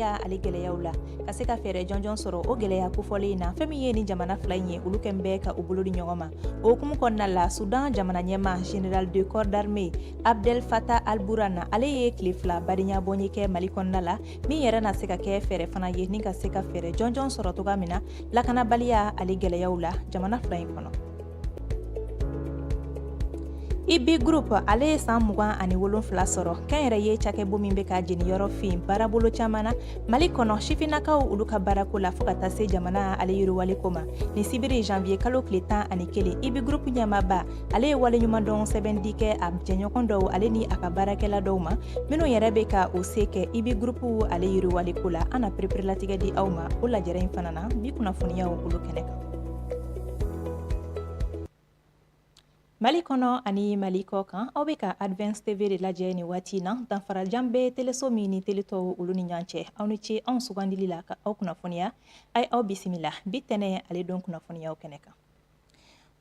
ya ale gɛlɛyaw la ka se ka fɛɛrɛ jɔnjɔn sɔrɔ o gɛlɛya kofɔlen in na fɛn min ye ni jamana fila in ye olu kɔni bɛ ka u bolo di ɲɔgɔn ma o hukumu kɔnɔna la sudan jamana ɲɛma general de corps d'armée abdel fattah al-burhan ale ye tile fila badenya bɔnye kɛ mali kɔnɔna la min yɛrɛ na se ka kɛ fɛɛrɛ fana ye ni ka se ka fɛɛrɛ jɔnjɔn sɔrɔ toga min na lakanabaliya ale gɛlɛyaw la jamana fila in kɔnɔ IBI group ale ye san mugan ani wolonfila sɔrɔ kɔni yɛrɛ ye cakɛbon min be ka jeniyɔrɔ fin baarabolo caman na mali kɔnɔ sifinnakaw olu ka baarako la fo ka taa se jamana ale yiriwali ko ma ni sibiri janviye kalo kile tan ani kelen IBI group ɲɛmaba ale ye waleɲuman dɔn sɛbɛndi kɛ a jɛɲɔgɔn dɔw ale ni a ka baarakɛla dɔw ma minw yɛrɛ be ka u se kɛ IBI group ale yiriwali ko la an na pereperelatigɛ di aw ma o lajɛrɛ in fana na bi kunnafoniyaw olu kɛnɛ kan Mali kɔnɔ ani mali kɔ kan aw bɛ ka Advance TV de lajɛ ni waati in na danfara jan bɛ teleso min ni tele tɔw olu ni ɲɔgɔn cɛ aw ni ce anw sugandili la ka aw kunnafoniya aw aw bisimila bi tɛnɛn ale don kunnafoniyaw kɛnɛ kan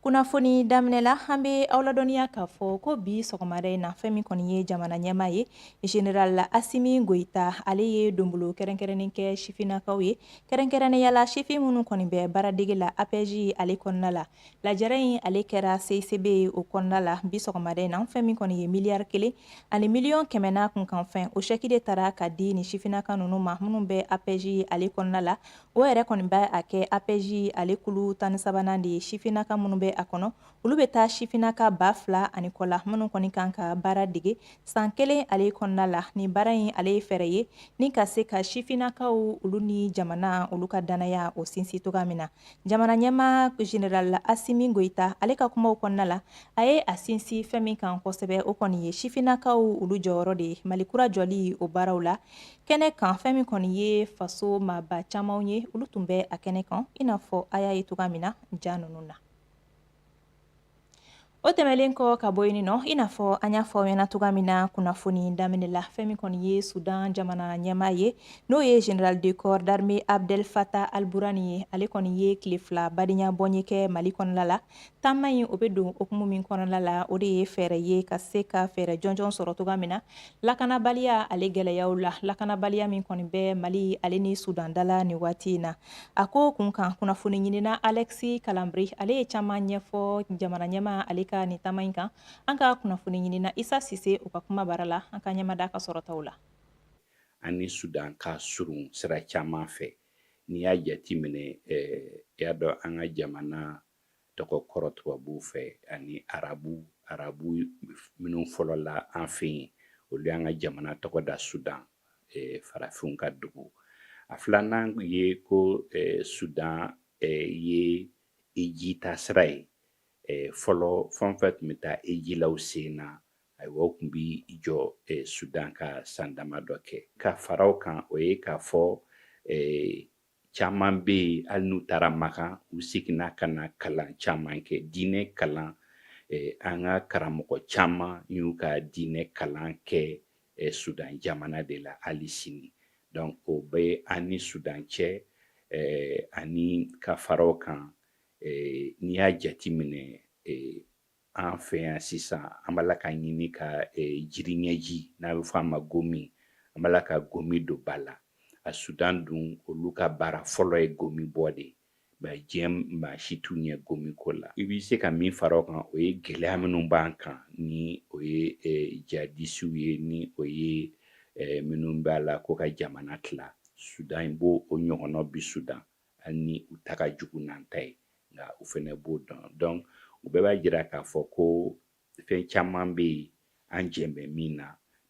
kunnafoni daminɛ la an bɛ aw ladɔnniya k'a fɔ ko bi sɔgɔmada in na fɛn min kɔni ye jamana ɲɛmaa ye general asimi goyita ale ye donbolo kɛrɛnkɛrɛnnen kɛ sifinnakaw ye kɛrɛnkɛrɛnnenya la sifin minnu kɔni bɛ baaradege la APEJ ale kɔnɔna la lajɛrɛ in ale kɛra CICB o kɔnɔna la bi sɔgɔmada in na fɛn min kɔni ye miliyari kelen ani miliyɔn kɛmɛ n'a kunkanfɛn o sɛki de taara ka di ni sifinnaka ninnu ma minnu bɛ APEJ ale kɔnɔna la o yɛrɛ kɔni bɛ a kɛ APEJ ale kulu tan ni sabanan de ye sifinnaka minnu bɛ a kɔnɔ olu bɛ taa sifinnaka ba fila ani kɔ la minnu kɔni kan ka baara dege san kelen ale kɔnɔna la nin baara in ale ye fɛɛrɛ ye ni ka se ka sifinnakaw olu ni jamana olu ka dannaya o sinsin toga min na jamana ɲɛma general asimi goyita ale ka kumaw kɔnɔna la a ye a sinsin fɛn min kan kosɛbɛ o kɔni ye sifinnakaw olu jɔyɔrɔ de ye mali kura jɔli o baaraw la kɛnɛ kan fɛn min kɔni ye faso maaba camanw ye olu tun bɛ a kɛnɛ kan i n'a fɔ a y'a ye toga min na ja ninnu na O tɛmɛnlen kɔ ka bɔ yen nɔ i n'a fɔ an y'a fɔ aw ɲɛna cogoya min na kunnafoni daminɛ la fɛn min kɔni ye sudan jamana ɲɛmaa ye n'o ye general de corps d'armée Abdel Fattah al-Burhan ye ale kɔni ye tile fila badenya bɔnye kɛ Mali kɔnɔna la taama in o bɛ don hukumu min kɔnɔna la o de ye fɛɛrɛ ye ka se ka fɛɛrɛ jɔnjɔn sɔrɔ cogoya min na lakanabaliya ale gɛlɛyaw la lakanabaliya min kɔni bɛ Mali ale ni sudan da la nin waati in na A ko kun kan kunnafoni ɲinina Alexis Kalambry ale ye caman ɲɛfɔ jamana ɲɛma ale ka ni taama in kan an ka kunnafoni ɲinina isa sise u ka kuma bara la an ka ɲɛmada ka sɔrɔtaw la an ni sudan ka surun sira caman fɛ n'i y'a jateminɛ i y'a dɔn an ka jamana tɔgɔ kɔrɔ tubabuw fɛ ani arabu arabu minnu fɔlɔla an fɛ yen olu y'an ka jamana tɔgɔ da sudan eh, farafinw ka dugu a filanan ye ko eh, sudan eh, ye hiji taasira ye eh, fɔlɔ fan fɛ u tun bɛ taa hiji la u sen na ayiwa u tun bi jɔ eh, sudan ka san damadɔ kɛ ka fara o kan o ye k'a fɔ eh, Caman bɛ yen hali n'u taara makan u seginna ka na kalan caman kɛ diinɛ kalan an ka karamɔgɔ caman y'u ka diinɛ kalan kɛ sudan jamana de la hali sini donc o bɛ an ni sudan cɛ ani ka fara o kan n'i y'a jateminɛ An fɛ yan sisan an b'a la ka ɲini ka jiri ɲɛji n'a bɛ fɔ a ma gomi an b'a la ka gomi don ba la a sudan dun olu ka baara fɔlɔ ye gomi bɔ de mais diɲɛ maa si t'u ɲɛ gomi ko la i bɛ se ka min fara o kan o ye gɛlɛya minnu b'an kan ni o ye jihadisiw ye ni o ye minnu b'a la ko ka jamana tila sudan in b'o o ɲɔgɔnna bi sudan hali ni u ta ka jugu n'an ta ye nka u fana b'o dɔn donc o bɛɛ b'a jira k'a fɔ ko fɛn caman bɛ yen an jɛn bɛ min na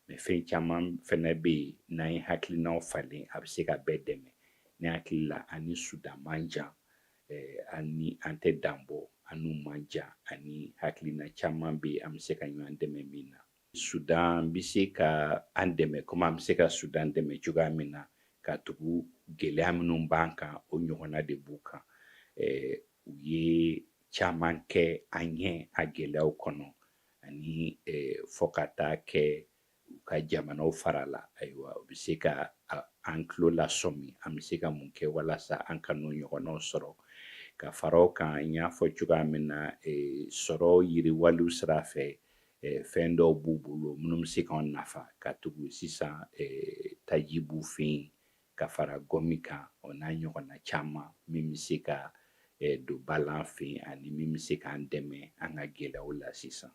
mais fɛn caman fana bɛ yen n'an ye hakilinaw falen a bɛ se ka bɛɛ dɛmɛ ne hakili la an ni sudan man jan eh, ani an tɛ danbɔ an n'u man jan ani hakilina caman bɛ yen an bɛ se ka ɲɔgɔn dɛmɛ min na Sudan bɛ se ka an dɛmɛ komi an bɛ se ka Sudan dɛmɛ cogoya min na katugu gɛlɛya minnu b'an kan o ɲɔgɔnna de b'u kan u ye caman kɛ an ɲɛ a gɛlɛyaw kɔnɔ ani fo ka taa kɛ u ka jamana farala ayiwa u bɛ se ka an tulo lasɔmi an bɛ se ka mun kɛ walasa an kan'o ɲɔgɔnnaw sɔrɔ ka fara o kan n y'a fɔ cogoya min na sɔrɔ yiriwaliw sira fɛ fɛn dɔw b'u bolo minnu bɛ se k'an nafa katugu sisan taji b'u fɛ yen ka fara gɔmi kan o n'a ɲɔgɔnna caman min bɛ se ka don ba la an fɛ yen ani min bɛ se k'an dɛmɛ an ka gɛlɛyaw la sisan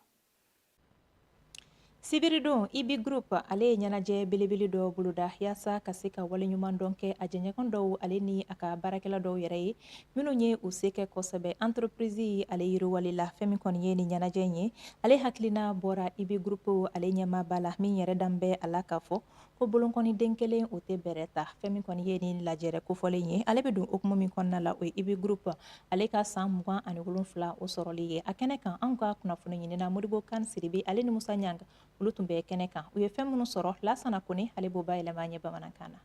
sibiridon ibi groupe ale ye ɲɛnajɛ belebele dɔ boloda yaasa ka se ka waleɲumandɔn kɛ a jɛɲɔgɔn dɔw ale ni a ka baarakɛla dɔw yɛrɛ ye minnu ye u se kɛ kosɛbɛ entreprise in ale yiriwali la fɛn min kɔni ye nin ɲɛnajɛ in ye ale hakilina bɔra ibi groupe ale ɲɛmaaba la min yɛrɛ dan bɛ a la k'a fɔ ko bolonkɔniden kelen o tɛ bɛrɛ ta fɛn min kɔni ye nin lajɛrɛ kofɔlen ye ale bɛ don hukumu min kɔnɔna la o ye ibi groupe ale ka san mugan ani wolonfila o sɔrɔli ye a kɛnɛ kan anw ka kunnafoni ɲinina modibo kan siribi ale ni musa ɲanga olu tun bɛ kɛnɛ kan u ye fɛn minnu sɔrɔ lasana kone ale b'o bayɛlɛma an ye bamanankan na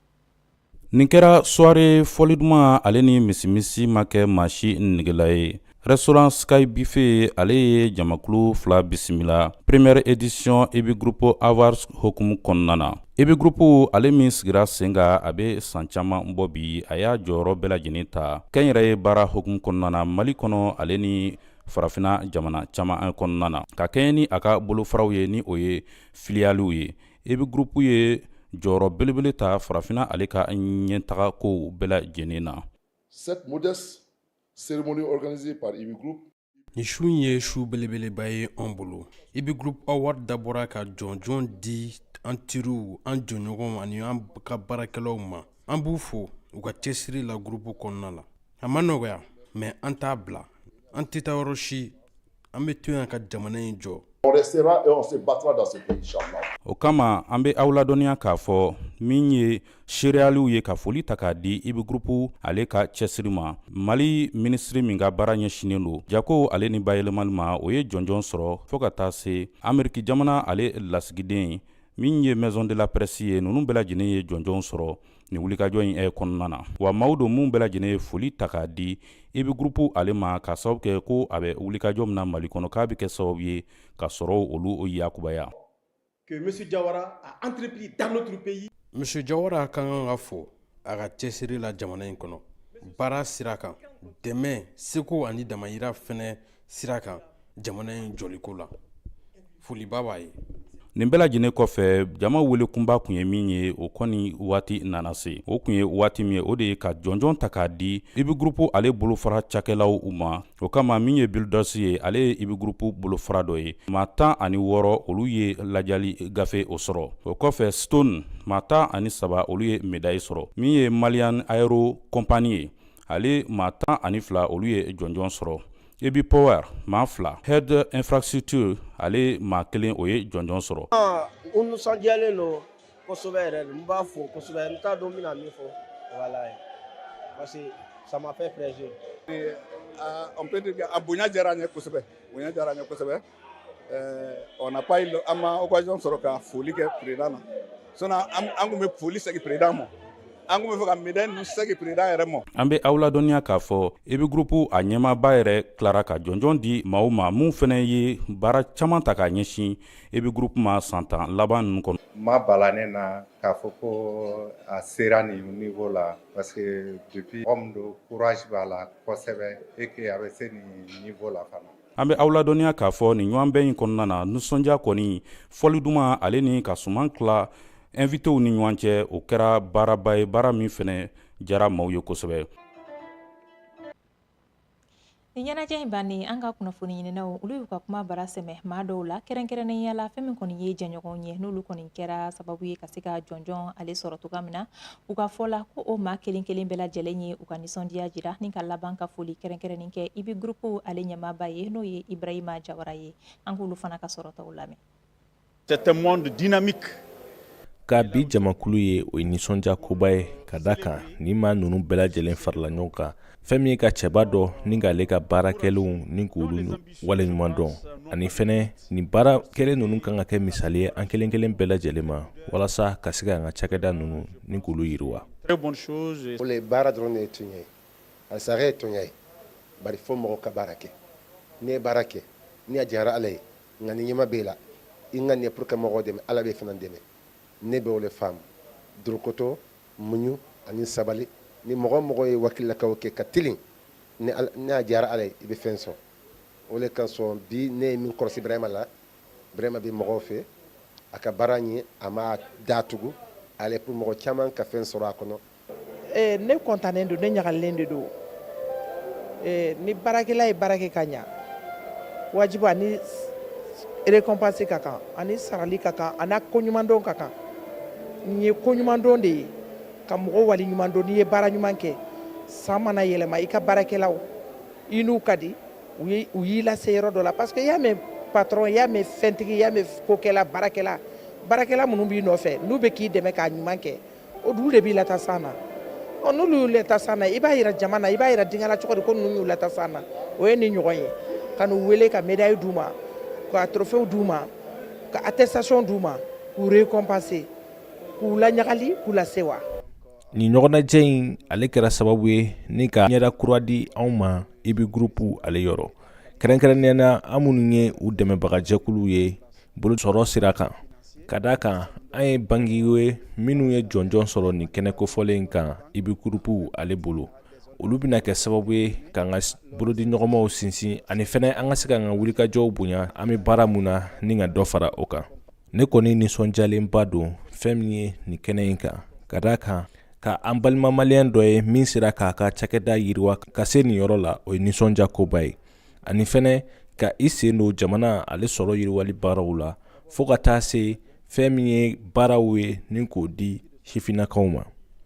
nin kɛra soirée fɔli duman ale ni misimisi ma kɛ maa si negela ye restaurant sky buffet ale ye jamakulu fila bisimila première édition ibi groupe awards hokumu kɔnɔna na ibi groupe ale min sigira sen kan a bɛ san caman bɔ bi a y'a jɔyɔrɔ bɛɛ lajɛlen ta kɛnyɛrɛye baara hokumu kɔnɔna na mali kɔnɔ ale ni farafina jamana caman kɔnɔna na ka kɛɲɛ ni a ka bolofaraw ye ni o ye filiyaliw ye ibi groupe ye jɔyɔrɔ belebele ta farafinna ale ka ɲɛtaga kow bɛɛ lajɛlen na nin su in ye su belebeleba ye an bolo ibi groupe award dabɔra ka jɔnjɔn di an teriw an jɔɲɔgɔnw ani an ka baarakɛlaw ma an b'u fo u ka cɛsiri la groupe kɔnɔna la a ma nɔgɔya mais an t'a bila an tɛ taa yɔrɔ si an bɛ to yan ka jamana in jɔ o kama an bɛ aw ladɔnniya k'a fɔ min ye seereyaliw ye ka foli ta k'a di ibi groupe ale ka cɛsiri ma mali minisiri min ka baara ɲɛsinnen don jako ale ni bayɛlɛmali ma o ye jɔnjɔn sɔrɔ fɔɔ ka taa se ameriki jamana ale lasigiden min ye maison de la presse ye ninnu bɛɛ lajɛlen ye jɔnjɔn sɔrɔ ni wulikajɔ in ɛ kɔnɔna na wa maaw don minnu bɛɛ lajɛlen ye foli ta k'a di ibi groupe ale ma k'a sababu kɛ ko a bɛ wulikajɔ min na mali kɔnɔ k'a bɛ kɛ sababu ye ka sɔrɔw olu yakubaya que monsieur Jawara a entrepris dans notre pays. Monsieur Jawara ka kan ka fo a ka cɛsiri la jamana in kɔnɔ baara sira kan dɛmɛ seko ani damayira fɛnɛ sira kan jamana in jɔliko la foliba b'a ye nin bɛɛ lajɛlen kɔfɛ jama wele kunba kun ye min ye o kɔni waati nana se o kun ye waati min ye o de ye ka jɔnjɔn ta k'a di ibi groupe ale bolofara cakɛlaw u ma o kama min ye builders ye ale ye ibi groupe bolofara dɔ ye maa tan ani wɔɔrɔ olu ye lajali gafe o sɔrɔ o kɔfɛ stone maa tan ani saba olu ye médaille sɔrɔ min ye malian aero company ye ale maa tan ani fila olu ye jɔnjɔn sɔrɔ ibi power maa fila head infrastructure ale maa kelen o ye jɔnjɔn sɔrɔ ah, u nisɔndiyalen don kosɛbɛ yɛrɛ n b'a fo kosɛbɛ n t'a dɔn n bɛna min fɔ voilà parce que ça m'a fait plaisir ah, on peut dire que a bonya diyara n ye kosɛbɛ bonya diyara n ye kosɛbɛ Euh, on n'a pas eu an ma occasion sɔrɔ ka foli kɛ président na sinon an kun bɛ foli segin président ma an kun bɛ fɛ ka médaille ninnu segin président yɛrɛ ma. an bɛ aw ladɔnniya k'a fɔ ibi groupe a ɲɛmaaba yɛrɛ tilara ka jɔnjɔn di maaw ma min fɛnɛ ye baara caman ta k'a ɲɛsin ibi groupe ma san tan laban ninnu kɔnɔ. ma bala ne na k'a fɔ ko a sera nin niveau la parce que depuis mɔgɔ min don courage b'a la kosɛbɛ et que a bɛ se nin niveau la fana. an bɛ aw ladɔnniya k'a fɔ nin ɲɔgɔnbɛn in kɔnɔna na nisɔndiya kɔni fɔli duman ale ni ka suman tila invitéw ni ɲɔgɔn cɛ o kɛra baaraba ye baara min fɛnɛ jara maaw ye kosɛbɛ nin ɲɛnajɛ in bannen an ka kunnafoni ɲininaw olu y'u ka kuma bara sɛmɛ maa dɔw la kɛrɛnkɛrɛnnenya la fɛn min kɔni ye jɛɲɔgɔnw ye n'olu kɔni kɛra sababu ye ka se ka jɔnjɔn ale sɔrɔ cogoya min na U ka fɔ la ko o maa kelen kelen bɛɛ lajɛlen ye u ka nisɔndiya jira ni ka laban ka foli kɛrɛnkɛrɛnnen kɛ IBI Group ale ɲɛmaaba ye n'o ye Ibrahima Jawara ye an k'olu fana ka kɔrɔfɔw lamɛn ka bi jamakulu ye o ye nisɔndiya koba ye ka da kan ni maa ninnu bɛɛ lajɛlen farala ɲɔgɔn kan fɛn min ye ka cɛba dɔ ni k'ale ka baara kɛlenw ni k'olu waleɲuman dɔn ani fɛnɛ nin baara kɛlen ninnu kan ka kɛ misali ye an kelen kelen bɛɛ lajɛlen ma walasa ka se k'an ka cakɛda ninnu ni k'olu yiriwa baara dɔrɔn de ye tuɲa ye a sara ye tuɲa ye bari fo mɔgɔ ka baara kɛ n'i ye baara kɛ ni a diyara ala ye ŋaniya ɲuman b'e la i ŋaniya ye pour ka mɔgɔw dɛmɛ ala b'e fana dɛmɛ ne bɛ o le faamu dorokoto muɲu ani sabali ni mɔgɔ o mɔgɔ ye wakili la k'o kɛ ka tilen ni a diyara ala ye i bɛ fɛn sɔrɔ o le kosɔn bi ne ye min kɔlɔsi Brahima la Brahima bɛ mɔgɔw fɛ a ka baara nin a ma datugu ale pour mɔgɔ caman ka fɛn sɔrɔ a kɔnɔ eh, ne kɔntannen don ne ɲagalen de don eh, ni baarakɛla ye baara kɛ ka ɲa wajibu a ni récompense ka kan a ni sarali ka kan a ni koɲumandɔn ka kan Nin ye koɲumandɔn de ye ka mɔgɔ waliɲuman dɔn n'i ye baara ɲuman kɛ san mana yɛlɛma i ka baarakɛlaw i n'u ka di u y'i lase yɔrɔ dɔ la parce que y'a mɛn patron y'a mɛn fɛntigi y'a mɛn kokɛla baarakɛla baarakɛla minnu b'i nɔfɛ n'u bɛ k'i dɛmɛ k'a ɲuman kɛ olu de b'i lata san na ɔ n'olu y'i lata san na i b'a yira jama na i b'a yira denkɛla cogo di ko ninnu y'i lata san na o ye nin ɲɔgɔn ye ka n'u wele ka médaille d'u ma ka trophée d'u ma ka attestation d'u ma k'u récompenser k'u laɲagali k'u lasewa nin ɲɔgɔnnajɛ in ale kɛra sababu ye ni ka ɲɛda kura di anw ma IBI Group ale yɔrɔ kɛrɛnkɛrɛnnenya na an minnu ye u dɛmɛbagajɛkulu ye bolosɔrɔ sira kan ka d'a kan an ye bankiw ye minnu ye jɔnjɔn sɔrɔ nin kɛnɛ kofɔlen in kan IBI Group ale bolo olu bɛna kɛ sababu ye k'an ka bolodiɲɔgɔnmaw sinsin ani fɛnɛ an ka se k'an ka wulikajɔw bonya an bɛ baara min na ni ka dɔ fara o kan ne kɔni nisɔndiyalenba don fɛn min ye nin kɛnɛ in kan ka d'a kan ka an balima maliyɛn dɔ ye min sera k'a ka cakɛda yiriwa ka se nin yɔrɔ la o ye nisɔndiya koba ye ani fɛnɛ ka i sen don jamana ale sɔrɔ yiriwali baaraw la fo ka taa se fɛn min ye baaraw ye ni k'o di sifinnakaw ma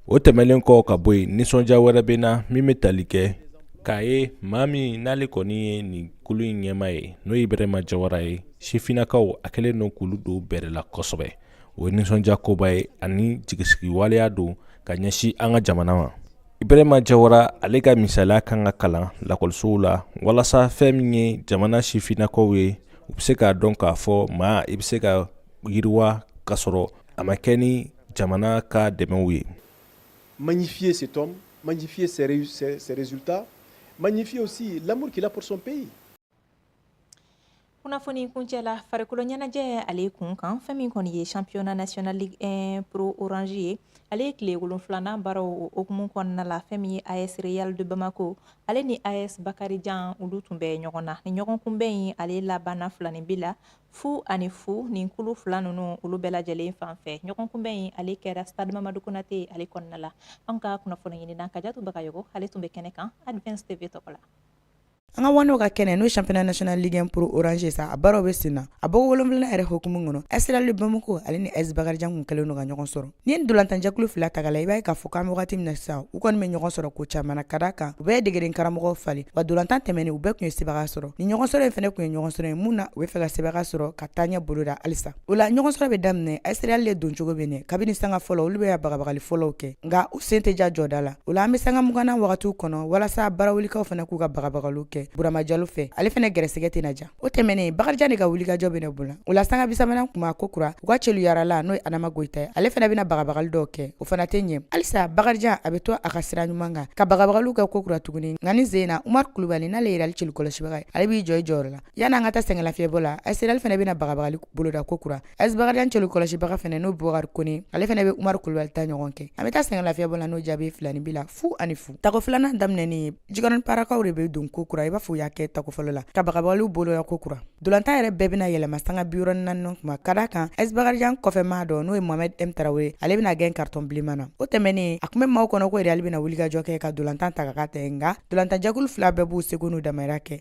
o tɛmɛlen kɔ ka bɔ yen nisɔndiya wɛrɛ bɛ na min bɛ tali kɛ k'a ye maa min n'ale kɔni ye nin kulu in ɲɛmaa ye n'o ye ibrahima jawara ye sifinnakaw a kɛlen don k'olu don bɛrɛ la kosɛbɛ o ye nisɔndiya koba ye ani jigisigi waleya don ka ɲɛsin an ka jamana ma ibrahima jawara ale ka misaliya kan ka kalan lakɔlisow la walasa fɛn min ye jamana sifinnakaw ye u bɛ se k'a dɔn k'a fɔ maa i bɛ se ka yiriwa ka sɔrɔ a ma kɛ ni jamana ka dɛmɛw ye magnifier cet homme magnifier ses résultats magnifier aussi l'amour qu'il a pour son pays kunnafoni kuncɛ la farikolo ɲɛnajɛ ale kun kan fɛn min kɔni ye championnat national ligue 1 pro orange ye ale ye tile wolonfilana baaraw o hukumu kɔnɔna la fɛn min ye as real de bamako ale ni as bakarijan olu tun bɛ ɲɔgɔn na nin ɲɔgɔn kunbɛn in ale labanna filaninbin la fu ani fu nin kulu fila ninnu olu bɛɛ lajɛlen fan fɛ ɲɔgɔn kunbɛn in ale kɛra stade mamadu konate ale kɔnɔna la an ka kunnafoni ɲinina kajatu bagayogo ale tun bɛ kɛnɛ kan advance tv tɔgɔ la an ka waanew ka kɛnɛ n'o ye championnat national ligue 1 pro orange sa a baaraw bɛ sen na a bɔko wolonwulanan yɛrɛ hokumu kɔnɔ as real de bamako ale ni as bakarijan kun kɛlen don ka ɲɔgɔn sɔrɔ n'i ye nin dolantanjɛkulu fila ta ka la i b'a ye k'a fɔ k'an bɛ wagati min na sisan u kɔni bɛ ɲɔgɔn sɔrɔ ko caman na ka da kan u bɛɛ ye degeden karamɔgɔw falen wa dolantan tɛmɛnen u bɛɛ kun ye sebaga sɔrɔ ni ɲɔgɔn sɔrɔ in fɛnɛ kun ye ɲɔgɔn sɔrɔ ye min na u b'a fɛ ka sebaga sɔrɔ ka taaɲɛ boloda halisa O la ɲɔgɔn sɔrɔ bɛ daminɛ AS Real le doncogo bɛ ɲɛ kabini sanga fɔlɔ olu bɛ bagabagali fɔlɔw kɛ nka u sen tɛ ja jɔda la o la an bɛ sanga mugannan wagatiw kɔnɔ walasa barawulikaw fana k'u ka bagabagaliw kɛ burama jalo fɛ ale fɛnɛ gɛrɛsɛgɛ tɛna ja o tɛmɛnen bakarijan de ka wulikajɔ bɛna bonya o la sanga bisabanan kuma ko kura u ka celu yaarala n'o ye adama goyita ye ale fɛnɛ bɛna bagabagali dɔw kɛ o fana tɛ ɲɛ halisa bakarijan a bɛ to a ka sira ɲuman kan ka bagabagaliw kɛ ko kura tuguni nka ni zena umari kulubali n'ale ye Real celu kɔlɔsibaga ye ale b'i jɔ i jɔyɔrɔ la Yann'an ka taa sɛgɛnlafiɲɛbɔ la AS Real fɛnɛ bɛna bagabagali boloda ko kura AS bakarijan celu kɔlɔsibaga fɛnɛ n'o bubakari kone ale fɛnɛ bɛ umar kulubali ta ɲɔgɔn kɛ an bɛ taa sɛgɛnlafiɲɛbɔ la n'o jaabi filaninbin la fu ani fu tako filanan daminɛnen jikɔrɔni parakaw de bɛ don ko kura i b'a fɔ u y'a kɛ tako fɔlɔ la ka bagabagali boloda ko kura dolantan yɛrɛ bɛɛ bɛna yɛlɛma sanga bi naani kuma ka da kan AS bakarijan kɔfɛmaa dɔ n'o ye mohamed m tarawele ye ale bɛna gɛn karitɔn bilenman na o tɛmɛnen a kun bɛ maaw kɔnɔ ko Real bɛna wulikajɔ kɛ ka dolantan ta ka tɛ nka dolantanjɛkulu fila bɛɛ b'u seko n'u damajira kɛ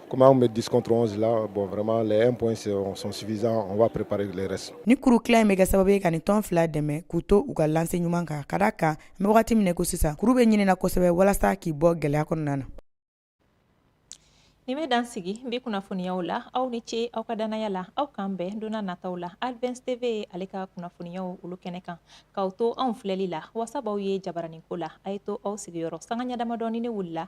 Comme on met 10 contre 11 là, bon vraiment les 1 points sont, sont suffisants, on va préparer les restes. Ni kuru kila in bɛ kɛ sababu ye ka nin tɔn fila dɛmɛ k'u to u ka lanse ɲuman kan ka da kan n bɛ wagati min na ko sisan kuru bɛ ɲinina kosɛbɛ walasa k'i bɔ gɛlɛya kɔnɔna na. Nin bɛ dan sigi bi kunnafoniyaw la aw ni ce aw ka danaya la aw k'an bɛn donna nataw la Advance TV ale ka kunnafoniyaw olu kɛnɛ kan k'aw to anw filɛli la wasa b'aw ye jabaraninko la a ye to aw sigiyɔrɔ sanga ɲɛ damadɔnin ne wulila